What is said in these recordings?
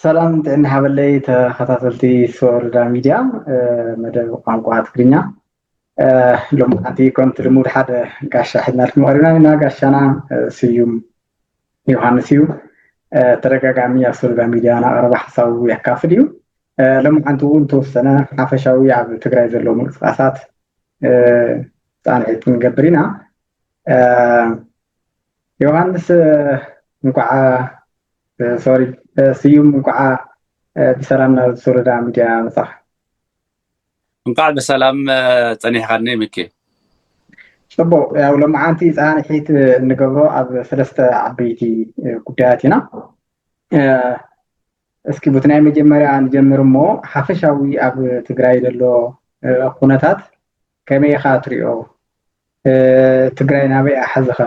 ሰላም ጥዕና ሃበለይ ተኸታተልቲ ሶርዳ ሚድያ መደብ ቋንቋ ትግርኛ ሎምዓንቲ ከምቲ ልሙድ ሓደ ጋሻ ሒዝናልኩም ቀሪብና ኣለና። ጋሻና ስዩም ዮሃንስ እዩ። ተደጋጋሚ ኣብ ሶሎዳ ሚድያ ናቐረበ ሓሳቡ የካፍል እዩ። ሎምዓንቲ እውን ተወሰነ ሓፈሻዊ ኣብ ትግራይ ዘለዉ ምንቅስቃሳት ፃንሒት ንገብር ኢና። ዮሃንስ እንኳዓ ሶሪ ስዩም እንኳዓ ብሰላም ናብ ሶሎዳ ሚድያ መፃኻ። እንኳዕ ብሰላም ፀኒሕኻኒ ሚኪ። ፅቡቕ ያው ሎማዓንቲ ፃንሒት እንገብሮ ኣብ ሰለስተ ዓበይቲ ጉዳያት ኢና እስኪ ቡቲ ናይ መጀመርያ ንጀምር እሞ ሓፈሻዊ ኣብ ትግራይ ዘሎ ኩነታት ከመይ ኢኻ ትሪኦ ትግራይ ናበይ ኣሓዝኻ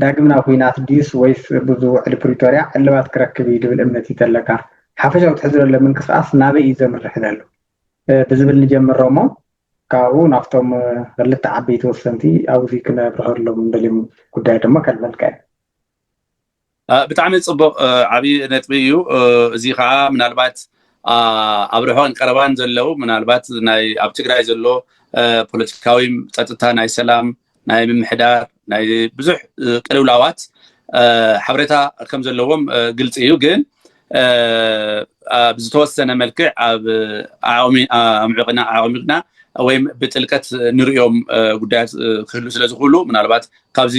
ዳግም ናብ ኹናት ድዩስ ወይስ ብዙ ውዕሊ ፕሪቶርያ ዕልባት ክረክብ እዩ ድብል እምነት እዩ ተለካ? ሓፈሻዊ ትሕዝቶ ዘለዎ ምንቅስቃስ ናበይ እዩ ዘምርሕ ዘሎ? ብዝብል ንጀምሮ እሞ ካብኡ ናብቶም ኽልተ ዓበይቲ ወሰንቲ ኣብዚ ክነብርሀሎም ንደልዮም ጉዳያት ድማ ከልመልካ እየ። ብጣዕሚ ጽቡቕ ዓቢ ነጥቢ እዩ እዚ ከኣ ምናልባት ኣብ ርሑቕን ቀረባን ዘለው ምናልባት ናይ ኣብ ትግራይ ዘሎ ፖለቲካዊም ጸጥታ ናይ ሰላም ናይ ምምሕዳር ናይ ብዙሕ ቅልውላዋት ሓበሬታ ከም ዘለዎም ግልፂ እዩ ግን ኣብ ዝተወሰነ መልክዕ ኣብ ኣምዕቕና ኣዕሚቕና ወይም ብጥልቀት ንሪኦም ጉዳያት ክህሉ ስለ ዝኽእሉ ምናልባት ካብዚ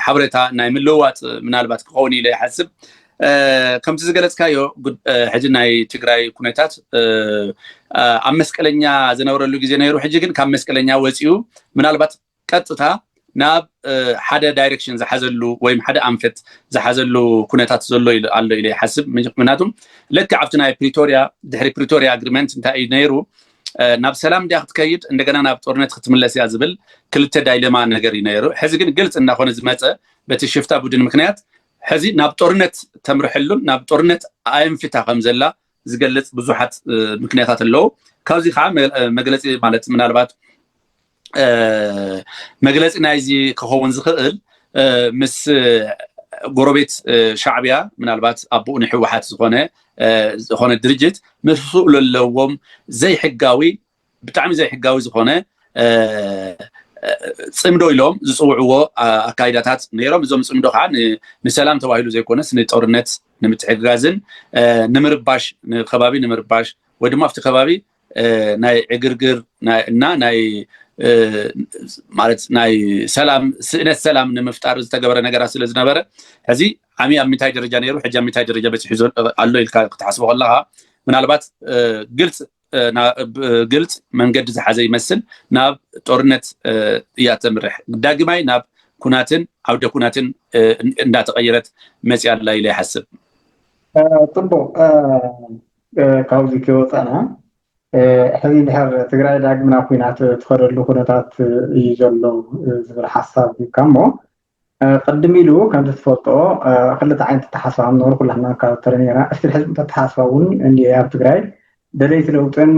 ሓበሬታ ናይ ምልውዋጥ ምናልባት ክኸውን ኢለ ይሓስብ ከምቲ ዝገለፅካዮ ሕጂ ናይ ትግራይ ኩነታት ኣብ መስቀለኛ ዝነበረሉ ግዜ ነይሩ ሕጂ ግን ካብ መስቀለኛ ወፂኡ ምናልባት ቀጥታ ናብ ሓደ ዳይሬክሽን ዝሓዘሉ ወይም ሓደ ኣንፈት ዝሓዘሉ ኩነታት ዘሎ ኣሎ ኢለ ይሓስብ ምክንያቱ ልክዕ ኣብቲ ናይ ፕሪቶሪያ ድሕሪ ፕሪቶሪያ ኣግሪመንት እንታይ እዩ ነይሩ ናብ ሰላም ድያ ክትከይድ እንደገና ናብ ጦርነት ክትምለስ እያ ዝብል ክልተ ዳይለማ ነገር እዩ ነይሩ ሕዚ ግን ግልፂ እናኾነ ዝመፀ በቲ ሽፍታ ቡድን ምክንያት ሕዚ ናብ ጦርነት ተምርሐሉን ናብ ጦርነት ኣየንፊታ ከም ዘላ ዝገልጽ ብዙሓት ምክንያታት ኣለዉ ካብዚ ከዓ መግለፂ ማለት ምናልባት መግለፂ ናይዚ ክኸውን ዝኽእል ምስ ጎረቤት ሻዕብያ ምናልባት ኣቦኡ ንሕወሓት ዝኾነ ዝኾነ ድርጅት ምስኡ ዘለዎም ዘይሕጋዊ ብጣዕሚ ዘይሕጋዊ ዝኾነ ፅምዶ ኢሎም ዝፅውዕዎ ኣካይዳታት ነይሮም እዞም ፅምዶ ከዓ ንሰላም ተባሂሉ ዘይኮነስ ንጦርነት ንምትሕግጋዝን ንምርባሽ ንከባቢ ንምርባሽ ወይ ድማ ኣብቲ ከባቢ ናይ ዕግርግር እና ናይ ማለት ናይ ሰላም ስእነት ሰላም ንምፍጣር ዝተገበረ ነገራት ስለ ዝነበረ ሕዚ ዓሚ ኣብ ምንታይ ደረጃ ነይሩ ሕጂ ኣብ ምንታይ ደረጃ በፂሑ ኣሎ ኢልካ ክትሓስቦ ከለካ ምናልባት ግልፂ ግልፅ መንገዲ ዝሓዘ ይመስል ናብ ጦርነት እያ ተምርሕ ዳግማይ ናብ ኩናትን ዓውደ ኩናትን እንዳተቀየረት መፅያ ኣላ ኢለ ይሓስብ ፅቡቅ ካብዚ ከይወፃና ሕዚ ድሕር ትግራይ ዳግም ናብ ኩናት ትኸደሉ ኩነታት እዩ ዘሎ ዝብል ሓሳብ ሂብካ እሞ ቅድም ኢሉ ከምቲ ትፈልጦ ክልተ ዓይነት ኣተሓሳስባ ከም ዝነበረ ኩላትና ካብ ተረኒና እስቲል ሕዚ ኣተሓሳስባ እውን እንኤ ኣብ ትግራይ ደለይቲ ለውጥን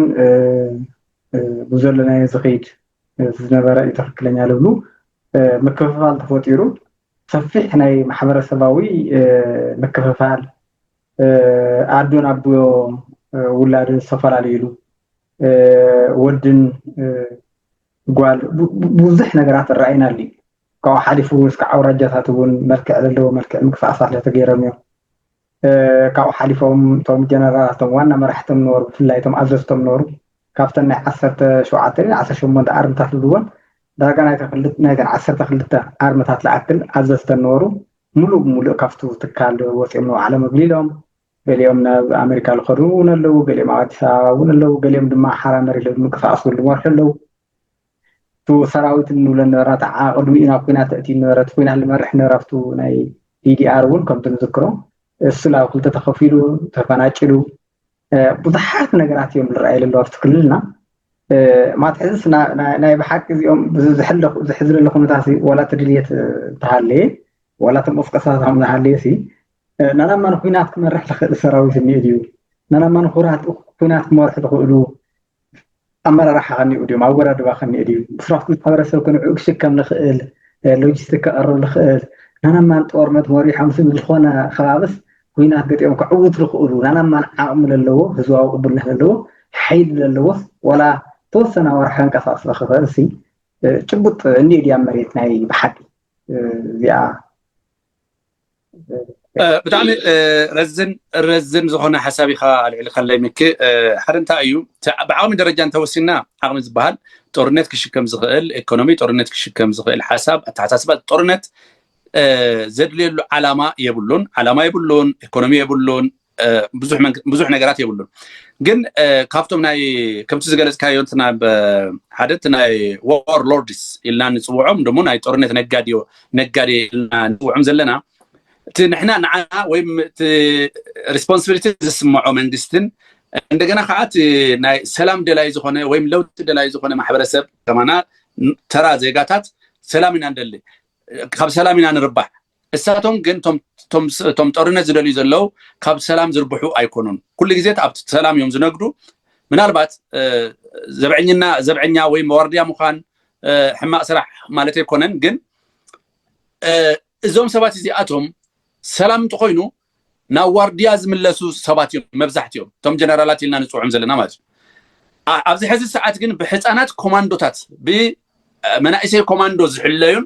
ብዘለናዮ ዝኽይድ ዝነበረ እዩ ትኽክለኛ ልብሉ ምክፍፋል ተፈጢሩ ሰፊሕ ናይ ማሕበረሰባዊ ምክፍፋል ኣዶን ኣቦ ውላድን ዝተፈላለዩሉ ወድን ጓል ብዙሕ ነገራት ራእይና ኣሉ ካብኡ ሓሊፉ እስካዕ ኣውራጃታት እውን መልክዕ ዘለዎ መልክዕ ምክፍኣፋት ተገይሮም እዮም። ካብኡ ሓሊፎም እቶም ጀነራላት እቶም ዋና መራሕቶም ነበሩ፣ ብፍላይ እቶም ኣዘዝቶም ነበሩ ካብተን ናይ ዓሰርተ ሸውዓተ ድዩ ዓሰርተ ሸሞንተ ኣርምታት ዝብልዎን ዳርጋ ናይተን ዓሰርተ ክልተ ኣርምታት ዝኣክል ኣዘዝተን ነበሩ። ሙሉእ ብሙሉእ ካብቱ ትካል ወፂኦም ንባዕሎም እግሊሎም ገሊኦም ናብ ኣመሪካ ዝኸዱ እውን ኣለዉ፣ ገሊኦም ኣብ ኣዲስ ኣበባ እውን ኣለዉ፣ ገሊኦም ድማ ሓራ መሬት ብምንቅስቓስ እውን ዝመርሑ ኣለዉ። እቱ ሰራዊት እንብሎ ነበረ ተዓ ቅድሚኡ ናብ ኩናት ተእትዩ ነበረ እቲ ኩናት ዝመርሕ ነበረ ኣብቱ ናይ ዲዲኣር እውን ከምቲ ንዝክሮ እሱ ናብ ክልተ ተኸፊሉ ተፈናጭሉ ብዙሓት ነገራት እዮም ዝረኣዩ ዘለዉ ኣብቲ ክልልና ማለት ሕዝስ ናይ ብሓቂ እዚኦም ዝሕዝ ዘሎ ኩነታት ዋላ እቲ ድልየት እንተሃለየ ዋላ እቲ ምቕስቀሳት ከም ዝሃለየ ሲ ናናብ ማን ኩናት ክመርሕ ዝኽእል ሰራዊት እኒኦ ድዩ ናናብ ማን ኩናት ክመርሑ ዝኽእሉ ኣመራርሓ ከኒኡ ድዩ ኣወዳድባ ከኒኡ ድዩ ብስራት ማሕበረሰብ ክንዑ ክሽከም ንኽእል ሎጂስቲክ ክቐርብ ንኽእል ናናማን ጦርነት መሪሖም ስብ ዝኾነ ከባብስ ኩናት ገጢኦም ከዕውት ዝኽእሉ ናናማን ዓቕሚ ዘለዎ ህዝባዊ ቅቡልነት ዘለዎ ሓይሊ ዘለዎስ ዋላ ተወሰነ ኣዋርሕ ከንቀሳቕስ ዝኽኽእል ሲ ጭቡጥ እኒኦ ድያ መሬት ናይ ብሓቂ እዚኣ ብጣዕሚ ረዝን ረዝን ዝኾነ ሓሳብ ኢኻ ኣልዕልካለይ ምክ ሓደ እንታይ እዩ ብዓቕሚ ደረጃ እንተወሲና ዓቕሚ ዝበሃል ጦርነት ክሽከም ዝኽእል ኢኮኖሚ ጦርነት ክሽከም ዝኽእል ሓሳብ ኣተሓሳስባ ጦርነት ዘድልየሉ ዓላማ የብሉን ዓላማ የብሉን ኢኮኖሚ የብሉን ብዙሕ ነገራት የብሉን ግን ካብቶም ናይ ከምቲ ዝገለፅካዮ እንትና ሓደ እቲ ናይ ዋር ሎርድስ ኢልና ንፅውዖም ደሞ ናይ ጦርነት ነጋዴዮ ነጋዴ ኢልና ንፅውዖም ዘለና እቲ ንሕና ንዓና ወይም እቲ ሪስፖንሲቢሊቲ ዝስምዖ መንግስትን እንደገና ከዓ እቲ ናይ ሰላም ደላይ ዝኾነ ወይም ለውጢ ደላይ ዝኾነ ማሕበረሰብ ከማና ተራ ዜጋታት ሰላም ኢና ንደሊ ካብ ሰላም ኢና ንርባሕ እሳቶም ግን እቶም ጦርነት ዝደልዩ ዘለው ካብ ሰላም ዝርብሑ ኣይኮኑን። ኩሉ ግዜ ኣብቲ ሰላም እዮም ዝነግዱ። ምናልባት ዘብዐኝና ዘብዐኛ ወይ መዋርድያ ምዃን ሕማቅ ስራሕ ማለት ኣይኮነን ግን እዞም ሰባት እዚኣቶም ሰላም እንተኾይኑ ናብ ዋርድያ ዝምለሱ ሰባት እዮም መብዛሕትኦም እቶም ጀነራላት ኢልና ንፅውዖም ዘለና ማለት እዩ ኣብዚ ሕዚ ሰዓት ግን ብሕፃናት ኮማንዶታት ብመናእሰይ ኮማንዶ ዝሕለዩን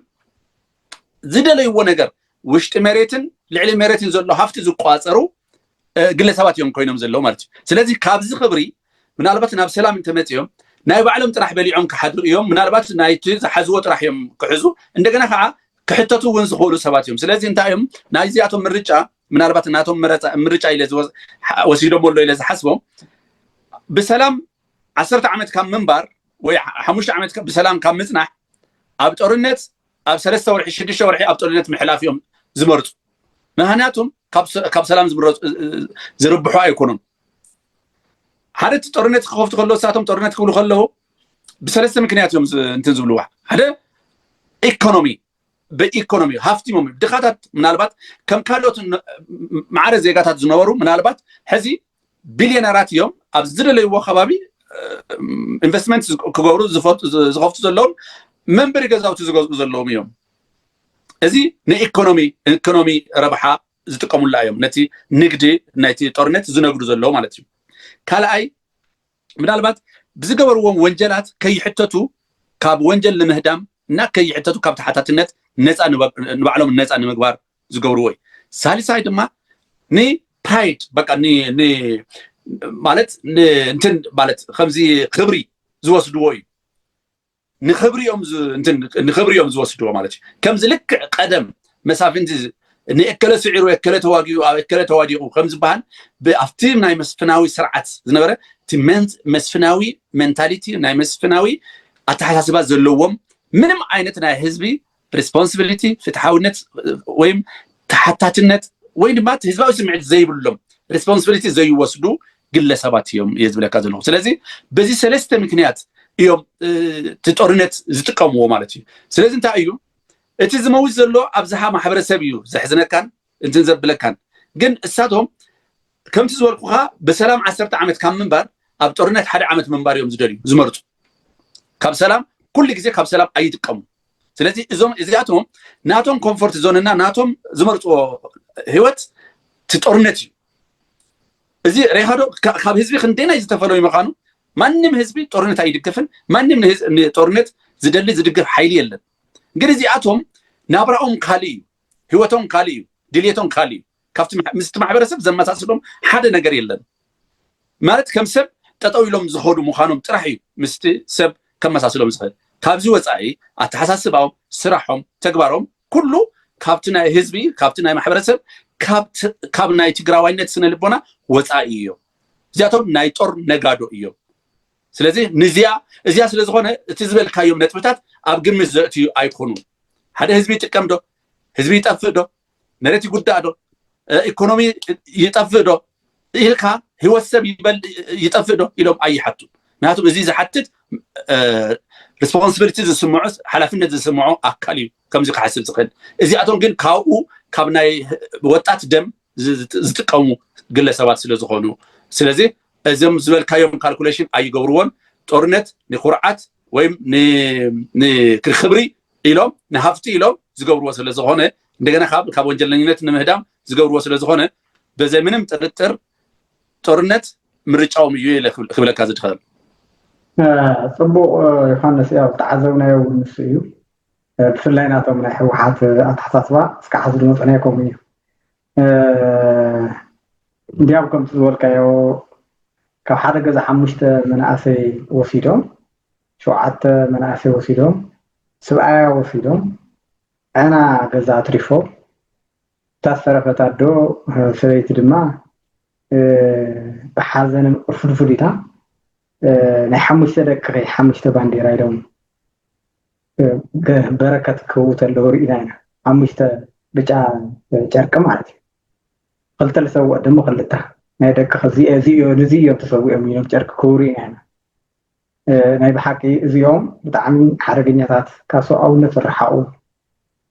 ዝደለይዎ ነገር ውሽጢ መሬትን ልዕሊ መሬትን ዘሎ ሃፍቲ ዝቋፀሩ ግለሰባት እዮም ኮይኖም ዘለዉ ማለት እዩ ስለዚ ካብዚ ክብሪ ምናልባት ናብ ሰላም እንተመፅኦም ናይ ባዕሎም ጥራሕ በሊዖም ክሓድሩ እዮም ምናልባት ናይቲ ዝሓዝዎ ጥራሕ እዮም ክሕዙ እንደገና ከዓ ክሕተቱ እውን ዝኽእሉ ሰባት እዮም ስለዚ እንታይ እዮም ናይዚኣቶም ምርጫ ምናልባት ናቶም ምርጫ ኢለ ወሲዶሞ ኣሎ ኢለ ዝሓስቦ ብሰላም ዓሰርተ ዓመት ካብ ምንባር ወይ ሓሙሽተ ዓመት ብሰላም ካብ ምፅናሕ ኣብ ጦርነት ኣብ ሰለስተ ወርሒ ሽዱሽተ ወርሒ ኣብ ጦርነት ምሕላፍ እዮም ዝመርፁ ምክንያቱም ካብ ሰላም ዝርብሑ ኣይኮኑን ሓደ እቲ ጦርነት ክኸፍቱ ከለዉ እሳቶም ጦርነት ክብሉ ከለዉ ብሰለስተ ምክንያት እዮም እንትን ዝብልዋ ሓደ ኢኮኖሚ ብኢኮኖሚ ሃፍቲሞም ድኻታት ምናልባት ከም ካልኦት ማዕረ ዜጋታት ዝነበሩ ምናልባት ሕዚ ቢልዮነራት እዮም ኣብ ዝደለይዎ ከባቢ ኢንቨስትመንት ክገብሩ ዝኸፍቱ ዘለዎም መንበሪ ገዛውቲ ዝገዝኡ ዘለዎም እዮም እዚ ንኢኮኖሚ ኢኮኖሚ ረብሓ ዝጥቀሙላ እዮም ነቲ ንግዲ ናይቲ ጦርነት ዝነግዱ ዘለዉ ማለት እዩ ካልኣይ ምናልባት ብዝገበርዎም ወንጀላት ከይሕተቱ ካብ ወንጀል ንምህዳም እና ከይሕተቱ ካብ ተሓታትነት ነፃ ንባዕሎም ነፃ ንምግባር ዝገብርዎ እዩ ሳልሳይ ድማ ንፕራይድ በቃ ማለት እንትን ማለት ከምዚ ክብሪ ዝወስድዎ እዩ ንክብሪ እዮም ንክብሪ እዮም ዝወስድዎ ማለት እዩ ከምዚ ልክዕ ቀደም መሳፍንቲ ንእከለ ስዒሩ እከለ ተዋጊኡ ኣብ እከለ ተዋዲቑ ከም ዝበሃል ኣብቲ ናይ መስፍናዊ ስርዓት ዝነበረ እቲ መስፍናዊ ሜንታሊቲ ናይ መስፍናዊ ኣተሓሳስባ ዘለዎም ምንም ዓይነት ናይ ህዝቢ ሪስፖንስብሊቲ ፍትሓውነት ወይም ተሓታትነት ወይ ድማ እቲ ህዝባዊ ስምዒት ዘይብሎም ሪስፖንስብሊቲ ዘይወስዱ ግለሰባት እዮም እየ ዝብለካ ዘለኹ ስለዚ በዚ ሰለስተ ምክንያት እዮም እቲ ጦርነት ዝጥቀምዎ ማለት እዩ ስለዚ እንታይ እዩ እቲ ዝመውት ዘሎ ኣብዝሓ ማሕበረሰብ እዩ ዘሕዝነካን እንትን ዘብለካን ግን እሳቶም ከምቲ ዝበልኩኻ ብሰላም ዓሰርተ ዓመት ካብ ምንባር ኣብ ጦርነት ሓደ ዓመት ምንባር እዮም ዝደልዩ ዝመርፁ ካብ ሰላም ኩሉ ግዜ ካብ ሰላም ኣይጥቀሙን ስለዚ እዞም እዚኣቶም ናቶም ኮምፎርት ዞንና ናቶም ዝመርፅዎ ህይወት እቲ ጦርነት እዩ እዚ ሬሃዶ ካብ ህዝቢ ክንደይናይ ዝተፈለዩ ምዃኑ ማንም ህዝቢ ጦርነት ኣይድግፍን ማንም ጦርነት ዝደሊ ዝድግፍ ሓይሊ የለን ግን እዚኣቶም ናብራኦም ካልእ እዩ ህይወቶም ካልእ እዩ ድሌቶም ካልእ እዩ ካብቲ ምስቲ ማሕበረሰብ ዘመሳስሎም ሓደ ነገር የለን ማለት ከም ሰብ ጠጠው ኢሎም ዝኸዱ ምዃኖም ጥራሕ እዩ ምስቲ ሰብ ከመሳስሎም ዝኽእል ካብዚ ወፃኢ ኣተሓሳስባኦም ስራሖም ተግባሮም ኩሉ ካብቲ ናይ ህዝቢ ካብቲ ናይ ማሕበረሰብ ካብ ናይ ትግራዋይነት ስነ ልቦና ወፃኢ እዮም እዚኣቶም ናይ ጦር ነጋዶ እዮም ስለዚ ንዚያ እዚያ ስለ ዝኾነ እቲ ዝበልካዮም ነጥብታት ኣብ ግምት ዘእትዩ ኣይኮኑን ሓደ ህዝቢ ይጥቀም ዶ ህዝቢ ይጠፍእ ዶ መሬት ይጉዳእ ዶ ኢኮኖሚ ይጠፍእ ዶ ኢልካ ህይወት ሰብ ይጠፍእ ዶ ኢሎም ኣይሓቱ ምክንያቱም እዚ ዝሓትት ሪስፖንስብሊቲ ዝስምዖ ሓላፍነት ዝስምዖ ኣካል እዩ ከምዚ ክሓስብ ዝኽእል እዚኣቶም ግን ካብኡ ካብ ናይ ወጣት ደም ዝጥቀሙ ግለሰባት ስለ ዝኾኑ ስለዚ እዞም ዝበልካዮም ካልኩሌሽን ኣይገብርዎን ጦርነት ንኩርዓት ወይም ንክብሪ ኢሎም ንሃፍቲ ኢሎም ዝገብርዎ ስለዝኾነ እንደገና ካብ ካብ ወንጀለኝነት ንምህዳም ዝገብርዎ ስለዝኾነ በዘ ምንም ጥርጥር ጦርነት ምርጫዎም እዩ ኢለ ክብለካ ዝድኸል ጽቡቅ ዮሃንስ ያው ዝተዓዘብናዮ እውን ንሱ እዩ ብፍላይ ናቶም ናይ ህወሓት ኣተሓሳስባ እስካዕ ሕዚ ዝመፅናዮ ከምኡ እዩ እንዲያም ከምቲ ዝበልካዮ ካብ ሓደ ገዛ ሓሙሽተ መናእሰይ ወሲዶም ሸውዓተ መናእሰይ ወሲዶም ስብኣያ ወሲዶም ዐና ገዛ ኣትሪፎም እታ ዝተረፈት ኣዶ ሰበይቲ ድማ ብሓዘንን ቁርፍድፍድ ኢላ ናይ ሓሙሽተ ደቅኺ ሓሙሽተ ባንዴራ ኢሎም በረከት ክህቡ ተለዉ ርኢና ኢና ሓሙሽተ ብጫ ጨርቂ ማለት እዩ ክልተ ዝሰውኦ ድማ ክልተ ናይ ደቂ እዚ እዮም ተሰዊኦም ኢሎም ጨርቂ ክህቡ ርኢና ኢና ናይ ብሓቂ እዚኦም ብጣዕሚ ሓደገኛታት ካብ ሰብኣውነት ዝረሓቑ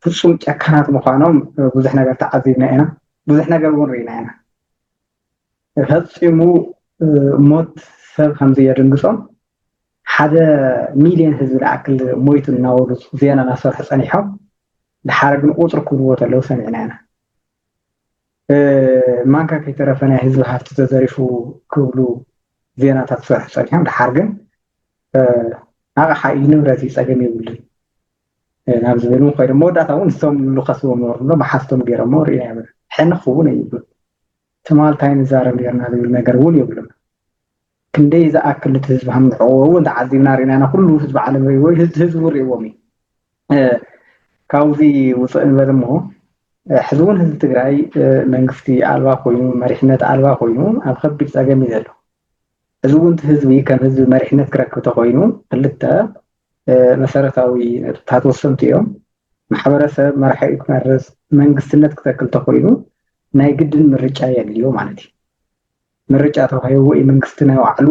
ፍፁም ጨካናት ምዃኖም ብዙሕ ነገር ተዓዚብና ኢና ብዙሕ ነገር እውን ርኢና ኢና ፈፂሙ ሞት ሰብ ከምዚ የድንግፆም ሓደ ሚልዮን ህዝቢ ዝኣክል ሞይቱ እናበሉ ዜና እናሰርሑ ፀኒሖም ድሓረ ግን ቁፅሪ ክብልዎ ተለዉ ሰሚዕና ኢና ማንካ ከይተረፈ ናይ ህዝቢ ሃፍቲ ተዘሪፉ ክብሉ ዜናታት ክሰርሑ ፀኒሖም ደሓር ግን ኣቕሓ እዩ ንብረት እዩ ፀገም የብሉን ናብ ዝብል እውን ኮይኖም መወዳእታ እውን እሶም ዝኸስዎም ነበሩ እሎ መሓዝቶም ገይሮሞ ርኢና ይብል ሕን ክኸውን ኣይብሉን ትማል እንታይ ንዛረብ ነርና ዝብል ነገር እውን የብሉን ክንደይ ዝኣክል እቲ ህዝቢ ሃምንዕዎ እውን ተዓዚብና ርኢና ኢና ኩሉ ህዝቢ ዓለም ርእዎ ህዝቢ ርእዎም እዩ ካብዚ ውፅእ ንበል እሞ ሕዚ እውን ህዝቢ ትግራይ መንግስቲ ኣልባ ኮይኑ መሪሕነት ኣልባ ኮይኑ ኣብ ከቢድ ፀገም እዩ ዘሎ እዚ እውን እቲ ህዝቢ ከም ህዝቢ መሪሕነት ክረክብ ተኮይኑ ክልተ መሰረታዊ ነጥብታት ወሰንቲ እዮም ማሕበረሰብ መራሒኡ ክመርፅ መንግስትነት ክተክል ተኮይኑ ናይ ግድን ምርጫ የድልዮ ማለት እዩ ምርጫ ተዋሂቡ ወይ መንግስቲ ናይ ባዕሉ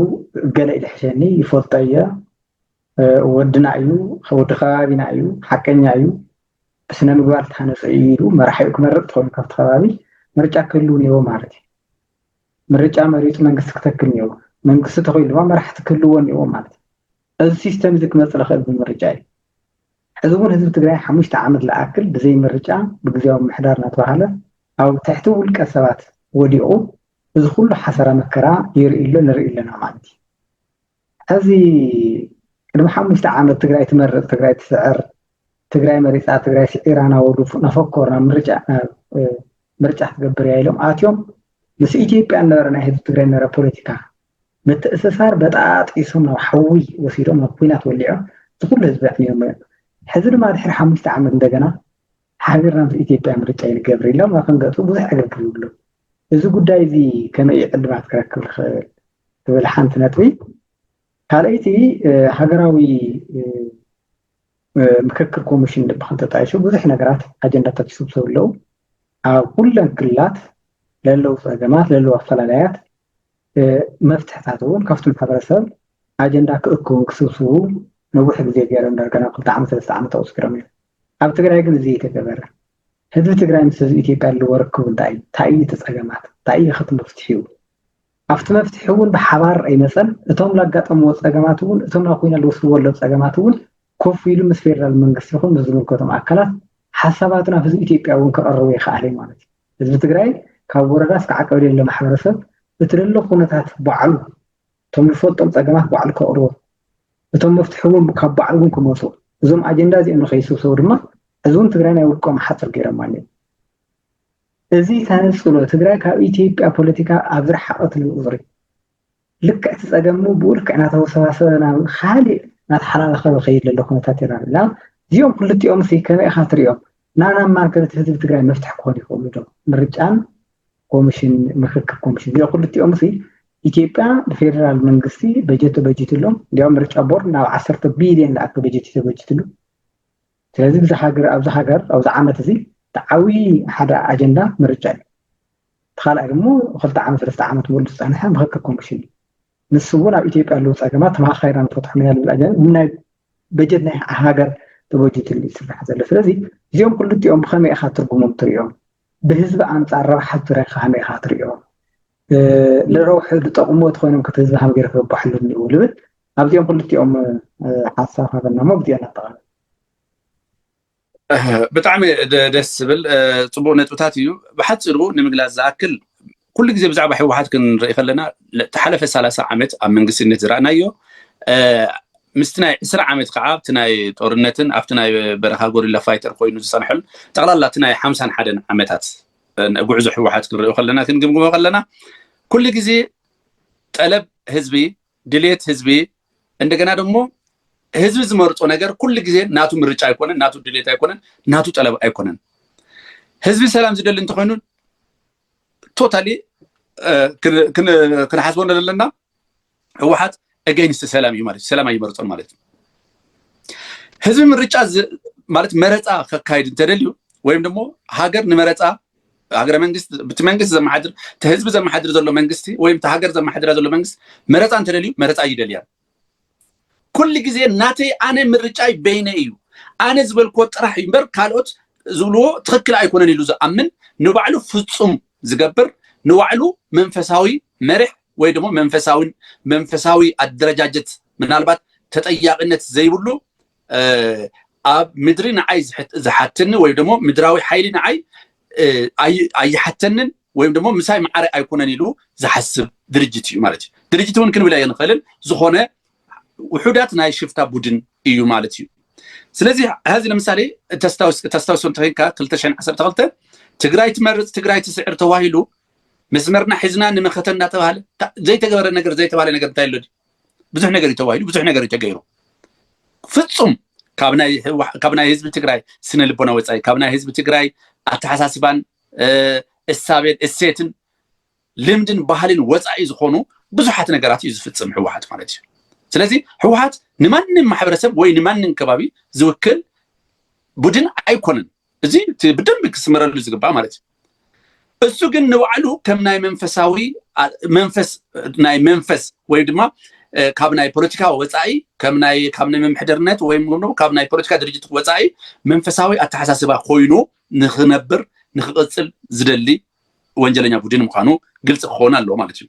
ገለ ኢልሕሸኒ ይፈልጦ እየ ወድና እዩ ወዲ ከባቢና እዩ ሓቀኛ እዩ ብስነ ምግባር ዝተሃነፀ እዩ ኢሉ መራሒኡ ክመርፅ ትኾኑ ካብቲ ከባቢ ምርጫ ክህሉ እኒዎ ማለት እዩ ምርጫ መሪፁ መንግስቲ ክተክል እኒዎ መንግስቲ ተኮይሉ ድማ መራሕቲ ክህልዎ እኒዎ ማለት እዩ እዚ ሲስተም እዚ ክመፅ ዝኽእል ብምርጫ እዩ ሕዚ እውን ህዝቢ ትግራይ ሓሙሽተ ዓመት ዝኣክል ብዘይ ምርጫ ብግዜያዊ ምሕዳር እናተባሃለ ኣብ ትሕቲ ውልቀ ሰባት ወዲቑ እዚ ኩሉ ሓሰራ መከራ ይርኢ ኣሎ ንርኢ ኣለና ማለት እዩ ሕዚ ቅድሚ ሓሙሽተ ዓመት ትግራይ ትመርፅ ትግራይ ትስዕር ትግራይ መሪፃ ትግራይ ስዒራ ናበሉ ናፈኮር ናብ ምርጫ ምርጫ ክትገብር እያ ኢሎም ኣትዮም ምስ ኢትዮጵያ ነበረ ናይ ህዝቢ ትግራይ ነበረ ፖለቲካ ምትእስሳር በጣጢሶም ናብ ሓዊ ወሲዶም ናብ ኩናት ወሊዖም እቲ ኩሉ ህዝቢ ኣዕንዮም እዮም ሕዚ ድማ ድሕሪ ሓሙሽተ ዓመት እንደገና ሓቢርና ምስ ኢትዮጵያ ምርጫ ይንገብር ኢሎም ክንገፁ ብዙሕ ዕግርግር ይብሉ እዚ ጉዳይ እዚ ከመይ እዩ ዕልባት ክረክብ ዝኽእል ትብል ሓንቲ ነጥቢ። ካልኣይቲ ሃገራዊ ምክክር ኮሚሽን ድብኸም ተጣይሹ ብዙሕ ነገራት ኣጀንዳታት ይስብሰቡ ኣለዉ ኣብ ኩለን ክልላት ለለዉ ፀገማት ለለዉ ኣፈላላያት መፍትሕታት እውን ካብቲ ማሕበረሰብ ኣጀንዳ ክእክቡን ክስብስቡ ነዊሕ ግዜ ገይሮም ዳርጋ ናብ ክልተ ዓመት ሰለስተ ዓመት ኣቑፅሮም እዮም ኣብ ትግራይ ግን እዚ የተገበረ ህዝቢ ትግራይ ምስ ህዝቢ ኢትዮጵያ ዘለዎ ርክቡ እንታይ እዩ? እንታይ እዩ እቲ ፀገማት? እንታይ እዩ ኸቲ መፍትሒኡ? ኣብቲ መፍትሒ እውን ብሓባር ኣይመፀን። እቶም ላጋጠምዎ ፀገማት እውን እቶም ናብ ኮይና ልወስድዎ ኣለዉ ፀገማት እውን ኮፍ ኢሉ ምስ ፌደራል መንግስቲ ይኹን ምስ ዝምልከቶም ኣካላት ሓሳባቱ ናብ ህዝቢ ኢትዮጵያ እውን ከቐርቡ ይኸኣል እዩ ማለት እዩ። ህዝቢ ትግራይ ካብ ወረዳ እስከ ዓቀብሌለ ማሕበረሰብ እቲ ዘሎ ኩነታት ባዕሉ እቶም ዝፈልጦም ፀገማት ባዕሉ ከቕርቦም እቶም መፍትሒ እውን ካብ ባዕሉ እውን ክመፁ እዞም ኣጀንዳ እዚኦም ንከይስብሰቡ ድማ እዚ እውን ትግራይ ናይ ውልቆም ሓፅር ገይሮም ኣለዉ እዚ ተነፅሎ ትግራይ ካብ ኢትዮጵያ ፖለቲካ ኣብ ዝረሓቐትሉ ቁፅሪ ልክዕ እቲ ፀገም ብኡ ልክዕ እናተወሰባሰበ ናብ ካሊእ እናተሓላለኸበ ከይድ ዘሎ ኩነታት ይረኣና እዚኦም ክልቲኦም ሲ ከመይ ኢኻ ትሪኦም ናናማን ከነቲ ህዝቢ ትግራይ መፍትሒ ክኾኑ ይኽእሉ ዶ ምርጫን ኮምሽን ምክክር ኮምሽን እዚኦ ክልቲኦም ሲ ኢትዮጵያ ብፌደራል መንግስቲ በጀት ተበጅትሎም እንዲያውም ምርጫ ቦርድ ናብ ዓሰርተ ቢልዮን ዝኣክ በጀት እዩ ተበጅትሉ ስለዚ ብዚ ሃገር ኣብዚ ሃገር ኣብዚ ዓመት እዚ ተዓብዪ ሓደ ኣጀንዳ ምርጫ እዩ እቲ ካልኣይ ድሞ ክልተ ዓመት ሰለስተ ዓመት ሙሉ ዝፀንሐ ምክክር ኮምሽን እዩ ንሱ እውን ኣብ ኢትዮጵያ ኣለዉ ፀገማት ተመካካይና ንፈትሖም ኢና ዝብል ኣጀንዳ ናይ በጀት ናይ ሃገር ተበጅትሉ ይስራሕ ዘሎ ስለዚ እዚኦም ክልቲኦም ብከመይ ኢካ ትርጉሞም ትሪኦም ብህዝቢ ኣንጻር ረብሓ ትግራይ ከመይ ኢኻ ትሪኦ? ንረብሕኡ ዝጠቕምዎ ተኾይኖም ከ እቲ ህዝቢ ከመይ ገይሩ ክረበሓሎም እኒእዎ ልብል ኣብዚኦም ክልቲኦም ሓሳብ ሃበና እሞ ብዚኦም ነጠቓልል። ብጣዕሚ ደስ ዝብል ፅቡቅ ነጥብታት እዩ ብሓፂሩ ንምግላፅ ዝኣክል ኩሉ ግዜ ብዛዕባ ህወሓት ክንርኢ ከለና እቲ ሓለፈ ሰላሳ ዓመት ኣብ መንግስትነት ዝረእናዮ ምስቲ ናይ ዕስራ ዓመት ከዓ ኣብቲ ናይ ጦርነትን ኣብቲ ናይ በረኻ ጎሪላ ፋይተር ኮይኑ ዝፀንሐሉ ጠቕላላ እቲ ናይ ሓምሳን ሓደን ዓመታት ጉዕዞ ህወሓት ክንሪኦ ከለና ክንግምግሞ ከለና ኩሉ ግዜ ጠለብ ህዝቢ ድሌት ህዝቢ እንደገና ደግሞ ህዝቢ ዝመርፆ ነገር ኩሉ ግዜ ናቱ ምርጫ ኣይኮነን ናቱ ድሌት ኣይኮነን ናቱ ጠለብ ኣይኮነን ህዝቢ ሰላም ዝደሊ እንተኮይኑ ቶታሊ ክንሓስቦ ዘለና ህወሓት ኤገይንስት ሰላም እዩ ማለት ሰላም ኣይመርፆን ማለት እዩ ህዝቢ ምርጫ ማለት መረፃ ከካይድ እንተደልዩ ወይም ደግሞ ሃገር ንመረፃ ሃገረ መንግስት ብቲ መንግስት ዘመሓድር እቲ ህዝቢ ዘመሓድር ዘሎ መንግስቲ ወይም እቲ ሃገር ዘመሓድራ ዘሎ መንግስት መረፃ እንተደልዩ መረፃ ይደልያ ኩሉ ግዜ ናተይ ኣነ ምርጫይ በይነ እዩ ኣነ ዝበልክዎ ጥራሕ እዩ እምበር ካልኦት ዝብልዎ ትኽክል ኣይኮነን ኢሉ ዝኣምን ንባዕሉ ፍፁም ዝገብር ንባዕሉ መንፈሳዊ መርሕ ወይ ደሞ መንፈሳዊ መንፈሳዊ ኣደረጃጀት ምናልባት ተጠያቂነት ዘይብሉ ኣብ ምድሪ ንዓይ ዝሓተኒ ወይ ደሞ ምድራዊ ሓይሊ ንዓይ ኣይሓተንን ወይም ደሞ ምሳይ መዓረ ኣይኮነን ኢሉ ዝሓስብ ድርጅት እዩ ማለት እዩ ድርጅት እውን ክንብል ኣይንኽእልን ዝኾነ ውሑዳት ናይ ሽፍታ ቡድን እዩ ማለት እዩ ስለዚ ሀዚ ለምሳሌ ተስታውሶ እንተኮንካ 212 ትግራይ ትመርፅ ትግራይ ትስዕር ተዋሂሉ መስመርና ሒዝና ንመኸተ እናተባሃለ ዘይተገበረ ነገር ዘይተባሃለ ነገር እንታይ ኣሎ ብዙሕ ነገር እዩ ተባሂሉ ብዙሕ ነገር እዩ ተገይሩ ፍፁም ካብ ናይ ህዝቢ ትግራይ ስነ ልቦና ወፃኢ ካብ ናይ ህዝቢ ትግራይ ኣተሓሳስባን እሳቤን እሴትን ልምድን ባህልን ወፃኢ ዝኾኑ ብዙሓት ነገራት እዩ ዝፍፅም ህወሓት ማለት እዩ ስለዚ ህወሓት ንማንም ማሕበረሰብ ወይ ንማንም ከባቢ ዝውክል ቡድን ኣይኮነን እዚ እቲ ብደንብ ክስመረሉ ዝግባእ ማለት እዩ እሱ ግን ንባዕሉ ከም ናይ መንፈሳዊ መንፈስ ናይ መንፈስ ወይ ድማ ካብ ናይ ፖለቲካ ወፃኢ ካብ ናይ ምምሕደርነት ወይ ካብ ናይ ፖለቲካ ድርጅት ወፃኢ መንፈሳዊ ኣተሓሳስባ ኮይኑ ንክነብር ንክቅፅል ዝደሊ ወንጀለኛ ቡድን ምዃኑ ግልፂ ክኸውን ኣለዎ ማለት እዩ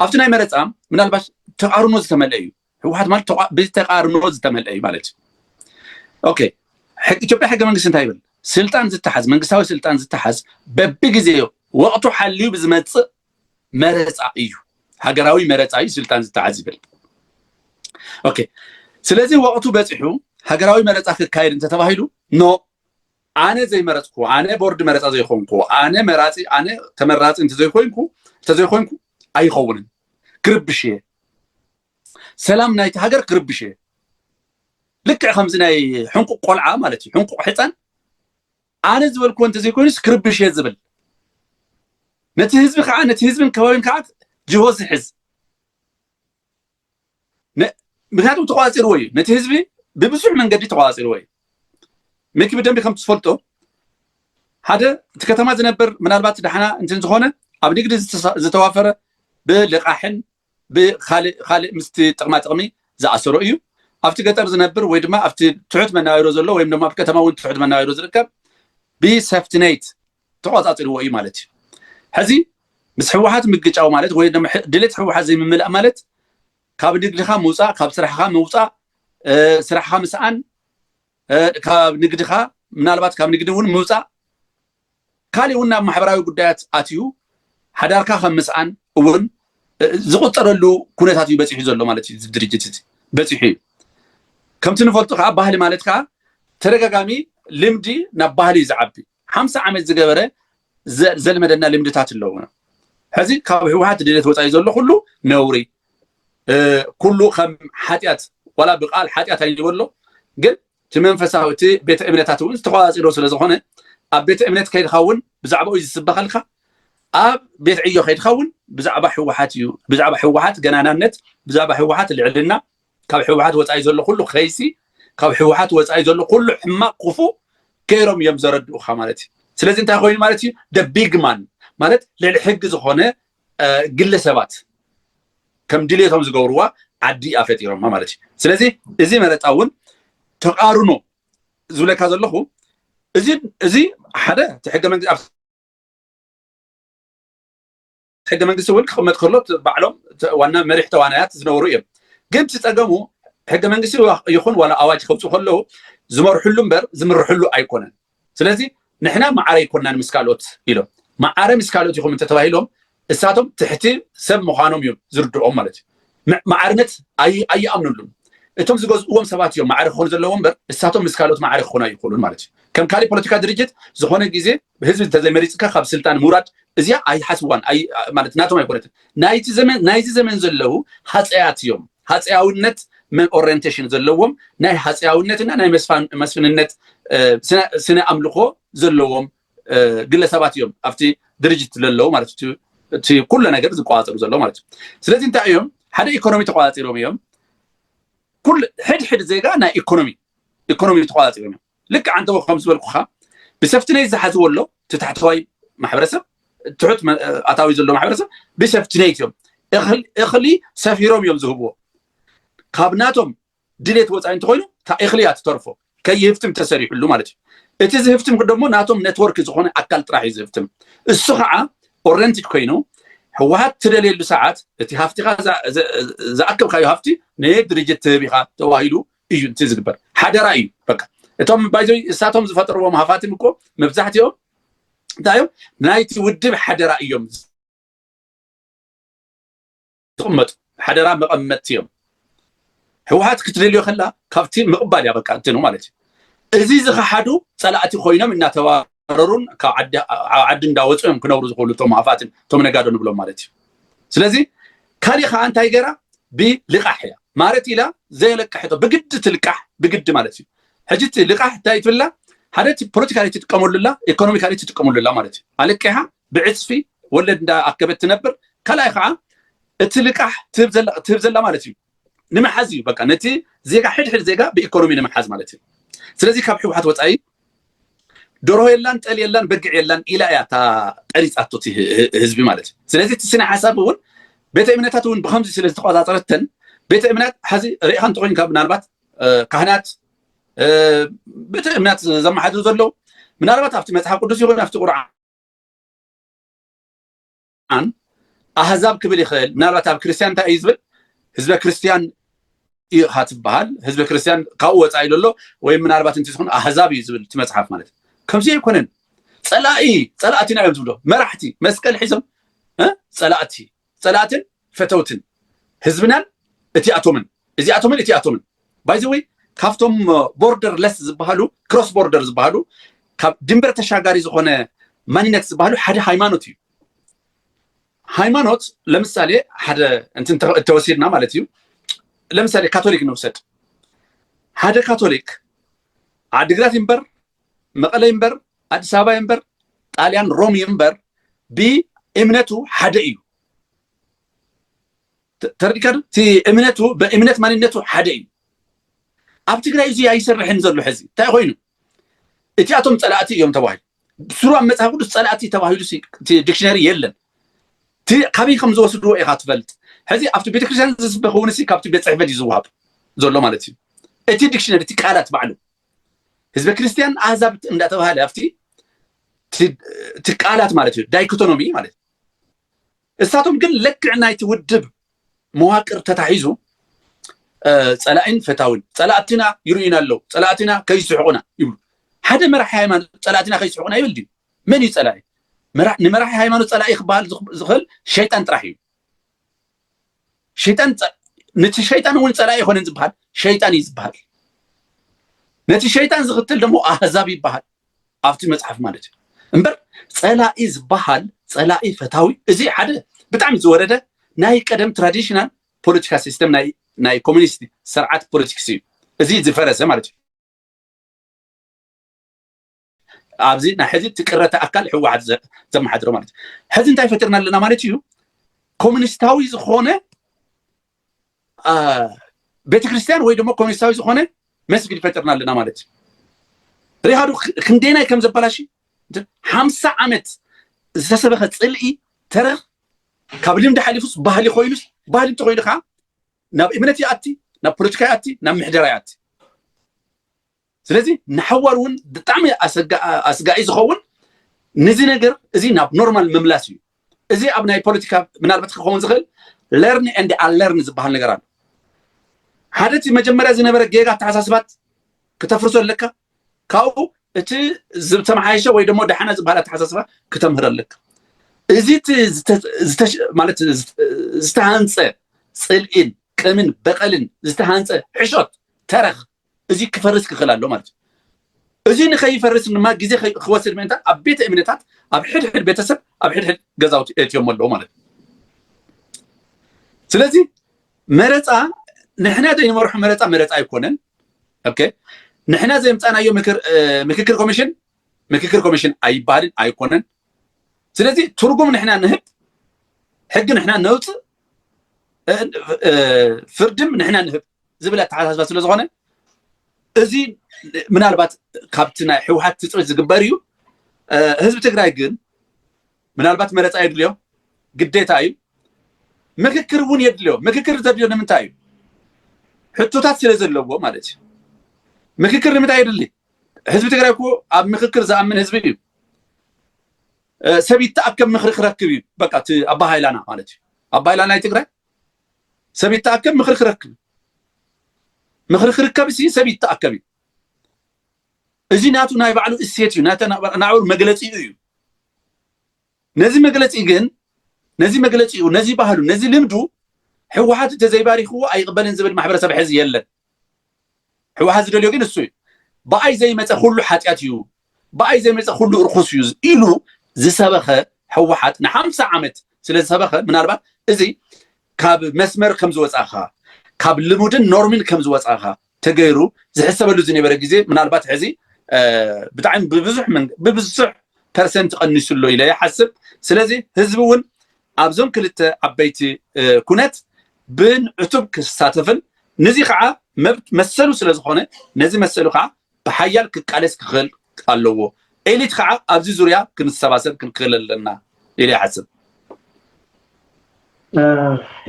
ኣብቲ ናይ መረፃ ምናልባሽ ተቃርኖ ዝተመልአ እዩ ህወሓት ማለት ተቋ- ብተቃርኖ ዝተመልአ እዩ ማለት እዩ ኦኬ ሕግ- ኢትዮጵያ ሕገ መንግስቲ እንታይ ይብል ስልጣን ዝተሓዝ መንግስታዊ ስልጣን ዝተሓዝ በብግዜ ወቅቱ ሓልዩ ብዝመፅእ መረፃ እዩ ሃገራዊ መረፃ እዩ ስልጣን ዝተሓዝ ይብል ኦኬ ስለዚ ወቅቱ በፂሑ ሃገራዊ መረፃ ክካየድ እንተተባሂሉ ኖ ኣነ ዘይመረጽኩዎ፣ ኣነ ቦርድ መረጻ ዘይኮንኩዎ፣ ኣነ መራጺ ኣነ ተመራጺ እንተዘይኮይንኩ እንተዘይኮይንኩ ኣይኸውንን። ክርብሽ እየ። ሰላም ናይቲ ሃገር ክርብሽ እየ። ልክዕ ከምዚ ናይ ሕንቁቕ ቆልዓ ማለት እዩ፣ ሕንቁቕ ሕፃን ኣነ ዝበልኩዎ እንተዘይኮይኑስ ክርብሽ እየ ዝብል ነቲ ህዝቢ ከዓ ነቲ ህዝብን ከባቢን ከዓ ጅሆ ዝሕዝ ምክንያቱ ተቋፂርዎ እዩ ነቲ ህዝቢ ብብዙሕ መንገዲ ተቋፂርዎ እዩ ሚኪ ብደንቢ ከም ትፈልጦ ሓደ እቲ ከተማ ዝነበር ምናልባት ዳሕና እንትን ዝኾነ ኣብ ንግዲ ዝተዋፈረ ብልቃሕን ብካልእ ካልእ ምስቲ ጥቕማ ጥቕሚ ዝኣሰሮ እዩ ኣብቲ ገጠር ዝነብር ወይ ድማ ኣብቲ ትሑት መናባብሮ ዘሎ ወይም ድማ ኣብ ከተማ እውን ትሑት መናባብሮ ዝርከብ ብሰፍትነይት ተቆጻጺርዎ እዩ ማለት እዩ። ሕዚ ምስ ህወሓት ምግጫው ማለት ወይ ድማ ድሌት ህወሓት ዘይምምላእ ማለት ካብ ንግድኻ ምውፃእ፣ ካብ ስራሕኻ ምውፃእ፣ ስራሕኻ ምስኣን፣ ካብ ንግድኻ ምናልባት ካብ ንግዲ እውን ምውፃእ፣ ካሊእ እውን ናብ ማሕበራዊ ጉዳያት ኣትዩ ሓዳርካ ከም ምስኣን እውን ዝቁፀረሉ ኩነታት እዩ በፂሑ ዘሎ ማለት እዩ። ድርጅት እዚ በፂሑ እዩ። ከምቲ ንፈልጡ ከዓ ባህሊ ማለት ከዓ ተደጋጋሚ ልምዲ ናብ ባህሊ እዩ ዝዓቢ። ሓምሳ ዓመት ዝገበረ ዘልመደና ልምድታት ኣለውና ሕዚ ካብ ህወሓት ድሌት ወፃኢ ዘሎ ኩሉ ነውሪ ኩሉ ከም ሓጢኣት ዋላ ብቃል ሓጢኣት ኣይበሎ ግን እቲ መንፈሳዊ እቲ ቤተ እምነታት እውን ዝተቋፃፂሮ ስለ ዝኾነ ኣብ ቤተ እምነት ከይድካ እውን ብዛዕባኡ ዝስበኸልካ ኣብ ቤት ዕዮ ከይድካ እውን ብዛዕባ ህወሓት እዩ ብዛዕባ ህወሓት ገናናነት ብዛዕባ ህወሓት ልዕልና ካብ ሕወሓት ወፃኢ ዘሎ ኩሉ ከይሲ ካብ ሕወሓት ወፃኢ ዘሎ ኩሉ ሕማቅ ክፉእ ገይሮም እዮም ዘረድኡካ ማለት እዩ ስለዚ እንታይ ኮይኑ ማለት እዩ ደ ቢግማን ማለት ልዕሊ ሕጊ ዝኾነ ግለ ሰባት ከም ድሌቶም ዝገብርዋ ዓዲ እያ ፈጢሮማ ማለት እዩ ስለዚ እዚ መረፃ እውን ተቃርኖ ዝብለካ ዘለኹ እዚ እዚ ሓደ እቲ ሕገ መንግስቲ ሕገ መንግስቲ እውን ክቕመጥ ከሎ ባዕሎም ዋና መሪሕ ተዋናያት ዝነበሩ እዮም ግን እቲ ፀገሙ ሕገ መንግስቲ ይኹን ዋላ ኣዋጅ ከውፁ ከለዉ ዝመርሕሉ እምበር ዝምርሕሉ ኣይኮነን ስለዚ ንሕና ማዕረ ይኮናን ምስ ካልኦት ኢሎም ማዕረ ምስ ካልኦት ይኹም እንተተባሂሎም እሳቶም ትሕቲ ሰብ ምዃኖም እዮም ዝርድኦም ማለት እዩ ማዕርነት ኣይኣምነሉን እቶም ዝገዝእዎም ሰባት እዮም ማዕረ ክኾኑ ዘለዎ እምበር እሳቶም ምስ ካልኦት ማዕረ ክኾኑ ኣይኽእሉን ማለት እዩ ከም ካሊእ ፖለቲካ ድርጅት ዝኾነ ግዜ ህዝቢ እንተዘይመሪፅካ ካብ ስልጣን ምውራድ እዚኣ ኣይሓስዋን ማለት ናቶም ኣይኮነትን ናይቲ ዘመን ናይዚ ዘመን ዘለዉ ሃፀያት እዮም ሃፀያውነት ኦሪንቴሽን ዘለዎም ናይ ሃፀያውነትና ናይ መስፍንነት ስነ ኣምልኾ ዘለዎም ግለ ሰባት እዮም ኣብቲ ድርጅት ዘለዉ ማለት እዩ እቲ ኩለ ነገር ዝቆፃፀሩ ዘለዉ ማለት እዩ ስለዚ እንታይ እዮም ሓደ ኢኮኖሚ ተቆፃፂሮም እዮም ኩል ሕድሕድ ዜጋ ናይ ኢኮኖሚ ኢኮኖሚ ተቆፃፂሮም እዮም ልክ ዓንተ ከም ዝበልኩካ ብሰፍቲ ነይ ዝሓዝዎ ኣሎ እቲ ታሕተዋይ ማሕበረሰብ ትሑት ኣታዊ ዘሎ ማሕበረሰብ ብሰፍቲ ነይት እዮም እኽሊ ሰፊሮም እዮም ዝህብዎ ካብ ናቶም ድሌት ወፃኢ እንተኾይኑ እታ እኽሊ እያ ትተርፎ ከይህፍትም ተሰሪሕሉ ማለት እዩ እቲ ዝህፍትም ደሞ ናቶም ነትወርክ ዝኾነ ኣካል ጥራሕ እዩ ዝህፍትም እሱ ከዓ ኦረንትድ ኮይኑ ህወሓት ትደልየሉ ሰዓት እቲ ሃፍቲኻ ዝኣከብካዮ ሃፍቲ ነየት ድርጅት ትህብ ኢኻ ተባሂሉ እዩ እቲ ዝግበር ሓደራ እዩ በቃ እቶም ባይዞ እሳቶም ዝፈጠርዎም ሃፋትም እኮ መብዛሕትኦም እንታይ እዮም ናይቲ ውድብ ሓደራ እዮም ትቕመጡ ሓደራ መቐመጥቲ እዮም ህወሓት ክትደልዮ ከላ ካብቲ ምቕባል እያ በቃ እንትኑ ማለት እዩ እዚ ዝኸሓዱ ፀላእቲ ኮይኖም እናተባረሩን ካብ ዓዲ እንዳወፁ እዮም ክነብሩ ዝኽእሉ እቶም ሃፋትን እቶም ነጋዶ ንብሎም ማለት እዩ ስለዚ ካሊእ ከዓ እንታይ ገራ ብልቃሕ እያ ማለት ኢላ ዘየለቅሐቶ ብግዲ ትልቃሕ ብግዲ ማለት እዩ ሕጂ እቲ ልቃሕ እንታይ ትብላ ሓደ ፖለቲካሊ ትጥቀመሉ ኣላ ኢኮኖሚካሊ ትጥቀመሉ ኣላ ማለት እዩ ኣለቂሓ ብዕፅፊ ወለድ እንዳ ኣከበት ትነብር ካልኣይ ከዓ እቲ ልቃሕ ትህብ ዘላ ማለት እዩ ንምሓዝ እዩ በቃ ነቲ ዜጋ ሕድሕድ ዜጋ ብኢኮኖሚ ንምሓዝ ማለት እዩ ስለዚ ካብ ሕወሓት ወፃኢ ደርሆ የላን ጠል የላን በግዕ የላን ኢላ እያ እታ ቀሪፃቶ እቲ ህዝቢ ማለት እዩ ስለዚ እቲ ስነ ሓሳብ እውን ቤተ እምነታት እውን ብከምዚ ስለ ዝተቆፃፀረተን ቤተ እምነት ሓዚ ርኢኻ እንተኮይንካ ምናልባት ካህናት ቤተ እምነት ዘመሓድሩ ዘለዉ ምናልባት ኣብቲ መፅሓፍ ቅዱስ ይኹን ኣብቲ ቁርዓን ኣን ኣህዛብ ክብል ይኽእል ምናልባት ኣብ ክርስትያን እንታይ እዩ ዝብል ህዝበ ክርስትያን እዩ ኢኻ ትበሃል ህዝበ ክርስትያን ካብኡ ወፃኢ ዘሎ ወይ ምናልባት እንቲ ዝኾኑ ኣህዛብ እዩ ዝብል እቲ መፅሓፍ ማለት እዩ ከምዚ ኣይኮነን ፀላኢ ፀላእቲና እዮም ዝብሎ መራሕቲ መስቀል ሒዞም ፀላእቲ ጸላእትን ፈተውትን ህዝብናን እቲኣቶምን እዚኣቶምን እቲኣቶምን ባይ ዘ ወይ ካብቶም ቦርደር ለስ ዝበሃሉ ክሮስ ቦርደር ዝበሃሉ ካብ ድንበር ተሻጋሪ ዝኾነ ማንነት ዝበሃሉ ሓደ ሃይማኖት እዩ ሃይማኖት ለምሳሌ ሓደ እንትን ተ- ተወሲድና ማለት እዩ ለምሳሌ ካቶሊክ ንውሰድ ሓደ ካቶሊክ ዓዲግራት ይንበር መቐለ ይንበር ኣዲስ ኣበባ ይንበር ጣልያን ሮም ይንበር ብእምነቱ ሓደ እዩ ተረዲካ እቲ እምነቱ በእምነት ማንነቱ ሓደ እዩ ኣብ ትግራይ እዚ ኣይሰርሕን ዘሎ ሕዚ እንታይ ኮይኑ እቲኣቶም ፀላእቲ እዮም ተባሂሉ ብስሩ ኣብ መፅሓፍ ቅዱስ ፀላእቲ ተባሂሉ እቲ ዲክሽነሪ የለን ካበይ ከም ዝወስድዎ ኢኻ ትፈልጥ ሕዚ ኣብቲ ቤተክርስትያን ዝስበክ እውን ካብቲ ቤት ፅሕፈት እዩ ዝወሃብ ዘሎ ማለት እዩ እቲ ዲክሽነሪ እቲ ቃላት ባዕሉ ህዝበ ክርስቲያን ኣህዛብ እንዳተባሃለ ኣብቲ እቲ ቃላት ማለት እዩ ዳይኮቶኖሚ ማለት እሳቶም ግን ልክዕ ናይቲ ውድብ መዋቅር ተታሒዙ ፀላኢን ፈታውን ፀላእትና ይርእዩና ኣለዉ ፀላእትና ከይስሕቁና ይብሉ ሓደ መራሒ ሃይማኖት ፀላእትና ከይስሕቁና ይብል ድዩ መን እዩ ፀላኢ ንመራሒ ሃይማኖት ፀላኢ ክበሃል ዝኽእል ሸይጣን ጥራሕ እዩ ሸይጣን ነቲ ሸይጣን እውን ፀላኢ ኣይኮነን ዝበሃል ሸይጣን እዩ ዝበሃል ነቲ ሸይጣን ዝኽትል ደሞ ኣህዛብ ይበሃል ኣብቲ መፅሓፍ ማለት እዩ እምበር ፀላኢ ዝበሃል ፀላኢ ፈታዊ እዚ ሓደ ብጣዕሚ ዝወረደ ናይ ቀደም ትራዲሽናል ፖለቲካ ሲስተም ናይ ኮሚኒስት ስርዓት ፖለቲክስ እዩ እዚ ዝፈረሰ ማለት እዩ ኣብዚ ናይ ሕዚ እቲ ቅረተ ኣካል ህወሓት ዘመሓድሮ ማለት ሕዚ እንታይ ፈጢርና ኣለና ማለት እዩ ኮሚኒስታዊ ዝኾነ ቤተክርስትያን ወይ ድማ ኮሚኒስታዊ ዝኾነ መስጊድ ፈጢርና ኣለና ማለት እዩ ሪሃዱ ክንደይናይ ከም ዘበላሽ ሓምሳ ዓመት ዝተሰበኸ ፅልኢ ተረኽ ካብ ልምዲ ሓሊፉስ ባህሊ ኮይኑስ ባህሊ እንተኮይኑ ከዓ ናብ እምነት ይኣቲ ናብ ፖለቲካ ይኣቲ ናብ ምሕደራ ይኣቲ ስለዚ ንሓዋሩ እውን ብጣዕሚ ኣስጋኢ ዝኸውን ነዚ ነገር እዚ ናብ ኖርማል ምምላስ እዩ እዚ ኣብ ናይ ፖለቲካ ምናልባት ክኸውን ዝኽእል ለርን ኤንድ ኣለርን ዝበሃል ነገር ኣሎ ሓደ እቲ መጀመርያ ዝነበረ ጌጋ ኣተሓሳስባት ክተፍርሶ ኣለካ ካብኡ እቲ ዝተመሓየሸ ወይ ደሞ ዳሓና ዝበሃል ኣተሓሳስባ ክተምህር ኣለካ እዚ ማለት ዝተሃንፀ ፅልኢን ቅምን በቐልን ዝተሃንፀ ሕሾት ተረኽ እዚ ክፈርስ ክኽእል ኣሎ ማለት እዩ እዚ ንከይፈርስ ድማ ግዜ ክወስድ ምእንታ ኣብ ቤተ እምነታት ኣብ ሕድሕድ ቤተሰብ ኣብ ሕድሕድ ገዛውቲ እትዮሞ ኣለዎ ማለት እዩ ስለዚ መረፃ ንሕና ዘይንመርሖ መረፃ መረፃ ኣይኮነን ኦኬ ንሕና ዘምፃናዮ ምክክር ኮሚሽን ምክክር ኮሚሽን ኣይባልን ኣይኮነን ስለዚ ትርጉም ንሕና ንህብ ሕጊ ንሕና ነውፅእ ፍርድም ንሕና ንህብ ዝብል ኣተሓሳስባ ስለ ዝኾነ እዚ ምናልባት ካብቲ ናይ ሕውሓት ትፅቢት ዝግበር እዩ ህዝቢ ትግራይ ግን ምናልባት መረፃ የድልዮ ግዴታ እዩ ምክክር እውን የድልዮ ምክክር ዘድልዮ ንምንታይ እዩ ሕቶታት ስለ ዘለዎ ማለት እዩ ምክክር ንምንታይ የድሊ ህዝቢ ትግራይ እኮ ኣብ ምክክር ዝኣምን ህዝቢ እዩ ሰብ ይተኣከብ ምክሪ ክረክብ እዩ በቃ እቲ ኣባሃይላና ማለት እዩ ኣባሃይላና ናይ ትግራይ ሰብ ይተኣከብ ምኽሪ ክረክብ ምኽሪ ክርከብ ሲ ሰብ ይተኣከብ እዩ እዚ ናቱ ናይ ባዕሉ እሴት እዩ ናተ ናብሩ መግለፂኡ እዩ ነዚ መግለፂ ግን ነዚ መግለፂኡ ነዚ ባህሉ ነዚ ልምዱ ህወሓት እንተዘይባሪኽዎ ኣይቕበልን ዝብል ማሕበረሰብ ሕዚ የለን ሕወሓት ዝደልዮ ግን እሱ እዩ። ብኣይ ዘይመፀ ኩሉ ሓጢኣት እዩ፣ ብኣይ ዘይመፀ ኩሉ ርኹስ እዩ ኢሉ ዝሰበኸ ሕወሓት ንሓምሳ ዓመት ስለዝሰበኸ ምናልባት እዚ ካብ መስመር ከምዝወፃእኻ ካብ ልሙድን ኖርሚን ከምዝወፃእኻ ተገይሩ ዝሕሰበሉ ዝነበረ ግዜ ምናልባት ሕዚ ብጣዕሚ ብብዙሕ ብብዙሕ ፐርሰንት ቀኒሱ ኣሎ ኢለ ይሓስብ። ስለዚ ህዝቢ እውን ኣብዞም ክልተ ዓበይቲ ኩነት ብን ዕቱብ ክሳተፍን ንዚ ኸዓ መብት መሰሉ ስለ ዝኾነ ነዚ መሰሉ ኸዓ ብሓያል ክቃለስ ክኽእል ኣለዎ። ኤሊት ኸዓ ኣብዚ ዙርያ ክንሰባሰብ ክንክእል ኣለና ኢለ ይሓስብ።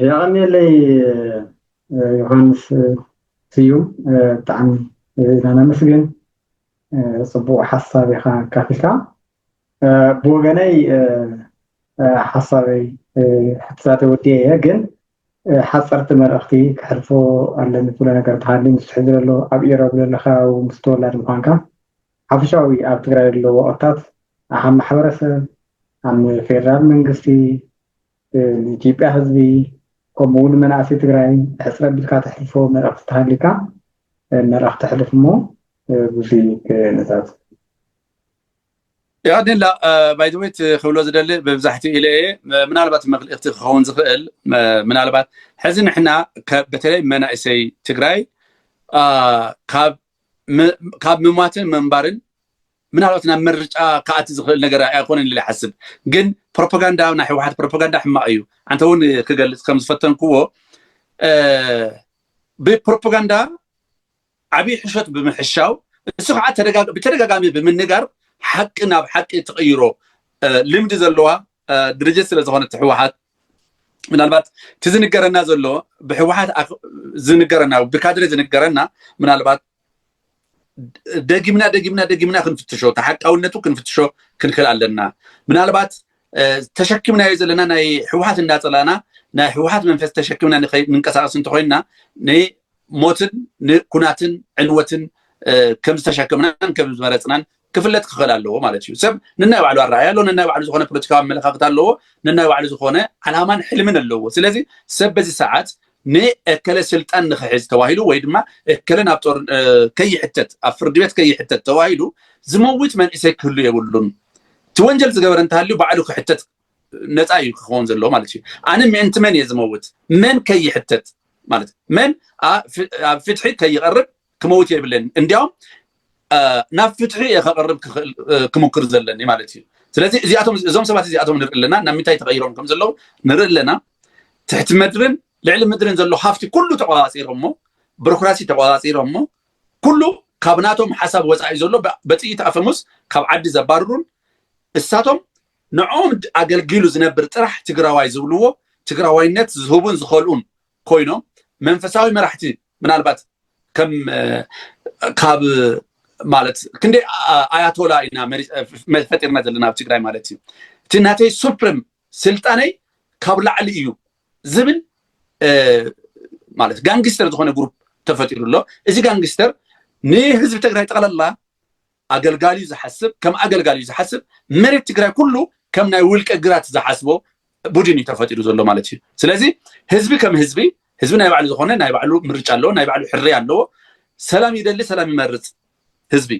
የቐንየለይ ዮሃንስ ስዩም ብጣዕሚ ኢና ነመስግን ጽቡቕ ሓሳብ ኢኻ ኣካፊልካ። ብወገነይ ሓሳበይ ሕትታተ ወዲኤ እየ ግን ሓፀርቲ መልእኽቲ ክሕልፎ ኣለኒ ትብሎ ነገር ተሃሊ ምስ ሕዚ ዘሎ ኣብ ኢሮብ ዘሎ ከባቢ ምስ ተወላድ ምኳንካ ሓፈሻዊ ኣብ ትግራይ ዘሎ ወቐታት ኣብ ማሕበረሰብ ኣብ ፌደራል መንግስቲ ንኢትዮጵያ ህዝቢ ከምኡ እውን መናእሰይ ትግራይ ሕፅረ ቢልካ ተሕልፎ መልእኽቲ ተሃሊካ መልእኽቲ ሕልፍ እሞ ብዙይ ነዛዝ ያድላ ባይዘወይ ክብሎ ዝደሊ ብብዛሕቲ ኢለ እየ ምናልባት መክልእክቲ ክኸውን ዝኽእል ምናልባት ሕዚ ንሕና በተለይ መናእሰይ ትግራይ ካብ ምሟትን ምንባርን ምናልባት ናብ ምርጫ ከኣቲ ዝኽእል ነገር ኣይኮነን ኢለ ሓስብ ግን ፕሮፓጋንዳ ናይ ህወሓት ፕሮፓጋንዳ ሕማቕ እዩ ኣንተ እውን ክገልፅ ከም ዝፈተንክዎ ብፕሮፓጋንዳ ዓብይ ሕሾት ብምሕሻው እሱ ከዓ ብተደጋጋሚ ብምንጋር ሓቂ ናብ ሓቂ ትቕይሮ ልምዲ ዘለዋ ድርጅት ስለ ዝኾነት ህወሓት ምናልባት እቲ ዝንገረና ዘሎ ብህወሓት ዝንገረና ብካድሬ ዝንገረና ምናልባት ደጊምና ደጊምና ደጊምና ክንፍትሾ ተሓቃውነቱ ክንፍትሾ ክንክእል ኣለና ምናልባት ተሸኪምናዮ ዘለና ናይ ህወሓት እንዳፀላእና ናይ ህወሓት መንፈስ ተሸኪምና ንንቀሳቀስ እንተኮይንና ንሞትን ንኩናትን ዕንወትን ከም ዝተሸከምናን ከም ዝመረፅናን ክፍለጥ ክኽእል ኣለዎ ማለት እዩ ሰብ ንናይ ባዕሉ ኣረኣያ ኣለዎ ንናይ ባዕሉ ዝኾነ ፖለቲካዊ ኣመለካክታ ኣለዎ ንናይ ባዕሉ ዝኾነ ዓላማን ሕልምን ኣለዎ ስለዚ ሰብ በዚ ሰዓት ንእከለ ስልጣን ንክሕዝ ተባሂሉ ወይ ድማ እከለ ናብ ጦር ከይሕተት ኣብ ፍርዲ ቤት ከይሕተት ተባሂሉ ዝመውት መንእሰይ ክህሉ የብሉን። እቲ ወንጀል ዝገበረ እንተሃልዩ ባዕሉ ክሕተት ነፃ እዩ ክኸውን ዘለዎ ማለት እዩ። ኣነ ምእንቲ መን እየ ዝመውት መን ከይሕተት ማለት መን ኣብ ፍትሒ ከይቐርብ ክመውት የብለኒ እንዲያውም ናብ ፍትሒ እየ ከቕርብ ክምክር ዘለኒ ማለት እዩ ስለዚ እዚኣቶም እዞም ሰባት እዚኣቶም ንርኢ ኣለና ናብ ምንታይ ተቐይሮም ከም ዘለዉ ንርኢ ኣለና ትሕቲ ምድርን ልዕሊ ምድርን ዘሎ ሃፍቲ ኩሉ ተቆፃፂሮ እሞ ብሮክራሲ ተቆፃፂሮ እሞ ኩሉ ካብ ናቶም ሓሳብ ወፃኢ ዘሎ በጥይት ኣፈሙስ ካብ ዓዲ ዘባርሩን እሳቶም ንዕኦም ኣገልጊሉ ዝነብር ጥራሕ ትግራዋይ ዝብልዎ ትግራዋይነት ዝህቡን ዝኸልኡን ኮይኖም መንፈሳዊ መራሕቲ ምናልባት ከም ካብ ማለት ክንደይ ኣያቶላ ኢና ፈጢርና ዘለና ኣብ ትግራይ ማለት እዩ እቲ ናተይ ሱፕሪም ስልጣነይ ካብ ላዕሊ እዩ ዝብል ማለት ጋንግስተር ዝኾነ ግሩፕ ተፈጢሩ ኣሎ እዚ ጋንግስተር ንህዝቢ ትግራይ ጠቕላላ ኣገልጋሊዩ ዝሓስብ ከም ኣገልጋሊዩ ዝሓስብ መሬት ትግራይ ኩሉ ከም ናይ ውልቀ ግራት ዝሓስቦ ቡድን እዩ ተፈጢሩ ዘሎ ማለት እዩ ስለዚ ህዝቢ ከም ህዝቢ ህዝቢ ናይ ባዕሉ ዝኾነ ናይ ባዕሉ ምርጫ ኣለዎ ናይ ባዕሉ ሕርያ ኣለዎ ሰላም ይደሊ ሰላም ይመርፅ ህዝቢ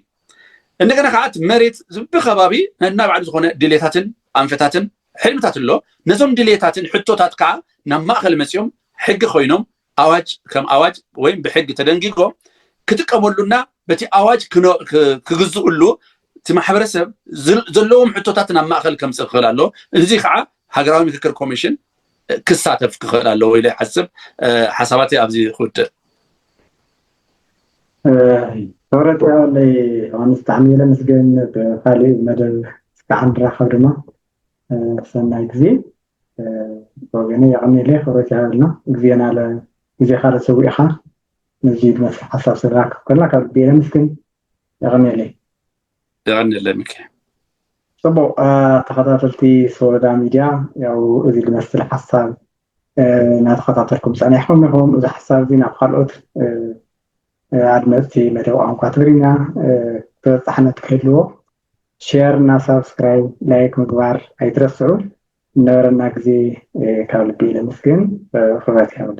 እንደገና ከዓ እቲ መሬት ብከባቢ ነና ባዕሉ ዝኾነ ድሌታትን ኣንፈታትን ሕልምታት ኣሎ ነዞም ድሌታትን ሕቶታት ከዓ ናብ ማእኸል መፂኦም ሕጊ ኮይኖም ኣዋጅ ከም ኣዋጅ ወይም ብሕጊ ተደንጊጎ ክጥቀመሉና በቲ ኣዋጅ ክግዝኡሉ እቲ ማሕበረሰብ ዘለዎም ሕቶታት ናብ ማእኸል ከምፅእ ክኽእል ኣሎ እዚ ከዓ ሃገራዊ ምክክር ኮሚሽን ክሳተፍ ክኽእል ኣለዎ ኢለ ይሓስብ ሓሳባተይ ኣብዚ ክውድእ ክብረት ያውለይ ኣንስ ብጣዕሚ ኢለ ምስገን ብካሊእ መደብ እስካዕ ንራኸብ ድማ ሰናይ ግዜ ብወገነይ የቐንየለይ ክብረት ይሃበልና ግዜና ለ ግዜኻ ለሰዊእኻ ነዚ ዝመስል ሓሳብ ስለሃብካ ከላ ካብ ልቢ የመስግን የቐንየለይ የቐንየለይ ምክ ጽቡቅ ተኸታተልቲ ሶሎዳ ሚድያ ያው እዚ ዝመስል ሓሳብ እናተኸታተልኩም ጸኒሕኩም ኢኹም እዚ ሓሳብ እዚ ናብ ካልኦት ኣድመፅቲ መደብ ቋንቋ ትግርኛ ተበፃሕነት ክህልዎ ሸር እና ሳብስክራይብ ላይክ ምግባር ኣይትረስዑ። ንነበረና ግዜ ካብ ልቢ ነመስግን። ክብረት ይሃብልና።